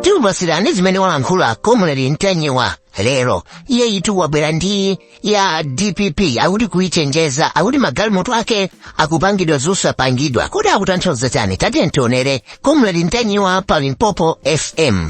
tikupatsirani zimene walankhula comrade ntanyiwa lero iye itu wabwera ndi ya dpp akuti kuichenjeza akuti magalimoto ake akupangidwa zosapangidwa kodi akutanthauza chani tatiyeni tionere comrade ntanyiwa pa limpopo fm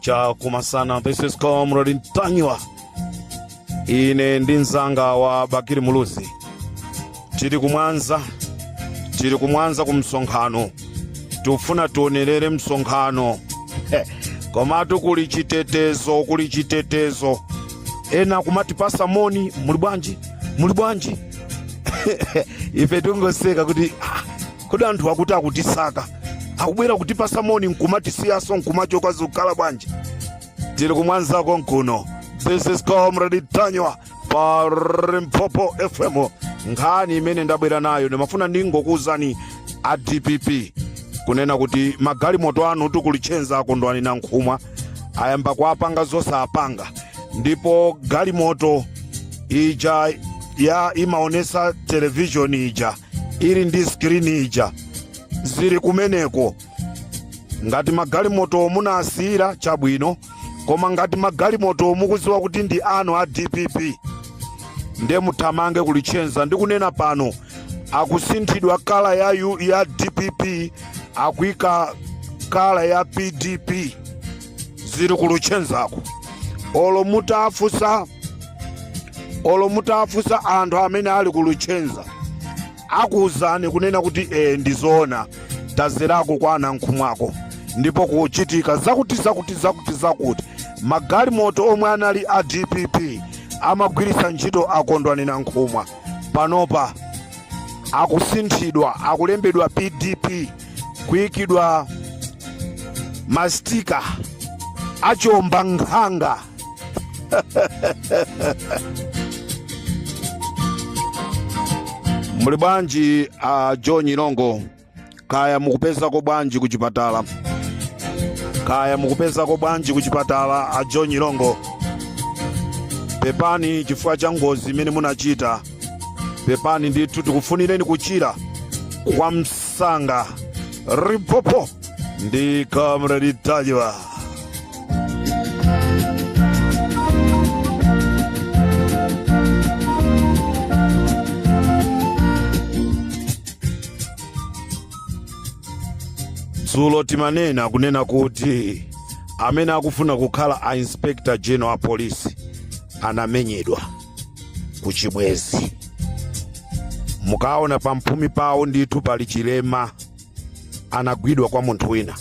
cha kumasana this is comrade ntanyiwa ine ndi mzanga wa bakiri muluzi tili ku mwanza tili ku mwanza ku msonkhano tifuna tionerere msonkhano Heh, komatu kuli chitetezo kuli chitetezo ena kumatipasa moni muli bwanji muli bwanji ife tikungoseka kuti ah, kodi anthu akuti akutisaka akubwera kutipasa moni nkumatisiyaso nkumachoka zikukhala bwanji tili ku mwanzako nkuno this is comrade ntanyiwa pa limpopo fm nkhani imene ndabwera nayo ndimafuna ndingokuwuzani a dpp kunena kuti magalimoto anutu ku luchenza a kondwani nankhumwa ayamba kuapanga zosapanga ndipo galimoto ija ya imaonesa televishoni ija ili ndi skrini ija zili kumeneko ngati magalimoto munasiyira chabwino koma ngati magalimoto mukuziwa kuti ndi anu a dpp nde muthamange ku luchenza ndikunena pano akusinthidwa kala ya, ya dpp akuika kala ya pdp zili ku luchenzako olo mutafunsa anthu amene ali ku luchenza akuwuzani kunena kuti ee ndizoona tazerako kwa a nankhumwako ndipo kuchitika zakuti zakuti zakuti zakuti magalimoto omwe anali a dpp amagwiritsa ntchito a kondwani nankhumwa panopa akusinthidwa akulembedwa pdp kuyikidwa mastika achomba nkhanga muli bwanji a john ilongo kaya mukupezako bwanji ku chipatala kaya mukupezako bwanji ku chipatala a john ilongo pepani chifukwa cha ngozi imene munachita pepani ndithu tikufunireni kuchira kwa ms sanga limpopo ndi comrade ntanyiwa dzulo timanena kunena kuti amene akufuna kukhala a inspector general a polisi anamenyedwa kuchibwezi mukaona pamphumi pawo ndithu pali chilema anagwidwa kwa munthu wina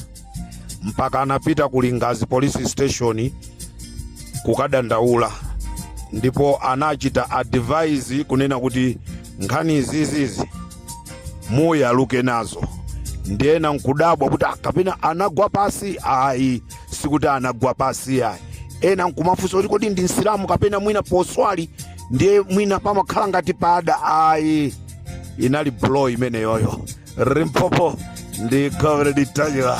mpaka anapita ku lingazi police station kukadandaula ndipo anachita advise kunena kuti nkhani izizizi muyaluke nazo ndiye ena nkudabwa kuti kapena anagwa pasi ayi sikuti anagwa pasi yayi ena nkumafunsa kuti kodi ndi msilamu kapena mwina poswali ndiye mwina pamakhala ngati pada ayi inali blow imeneyoyo limpopo ndi comrade ntanyiwa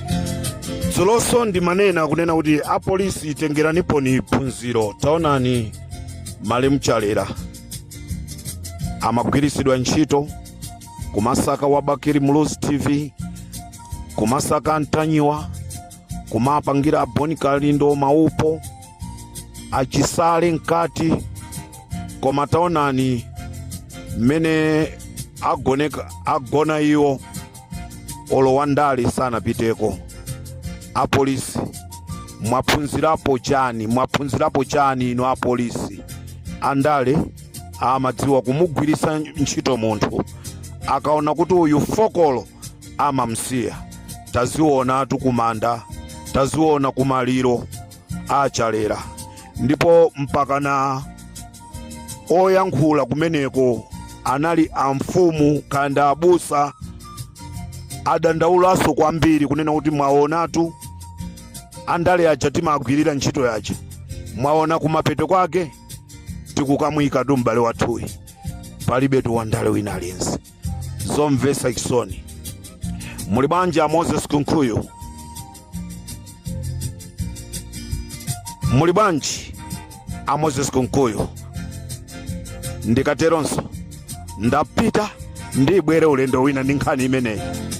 dzuloso ndimanena kunena kuti apolisi tengeraniponi phunziro taonani malemu chalera amagwiritsidwa ntchito kumasaka wa bakiri muluzi tv kumasaka antanyiwa kumapangira aboni kalindo maupo achisale mkati koma taonani mmene ago agona iwo olo wandale sanapiteko apolisi mwaphunzirapo chani inu apolisi andale amadziwa kumugwiritsa ntchito munthu akaona kuti uyu fokolo amamsiya tazionatu kumanda taziona kumaliro achalera ndipo mpakana oyankhula kumeneko anali amfumu kapena abusa adandaulanso kwambiri kunena kuti mwaonatu andale aja timagwirira ntchito yaja mwaona kumapeto kwake tikukamuyikatu m'bale wathuyi palibetu wandale wina aliyense zomvetsa chisoni muli bwanji a moses kunkuyu muli bwanji a moses kunkuyu ndikateronso ndapita ndibwere ulendo wina ndi nkhani imeneyi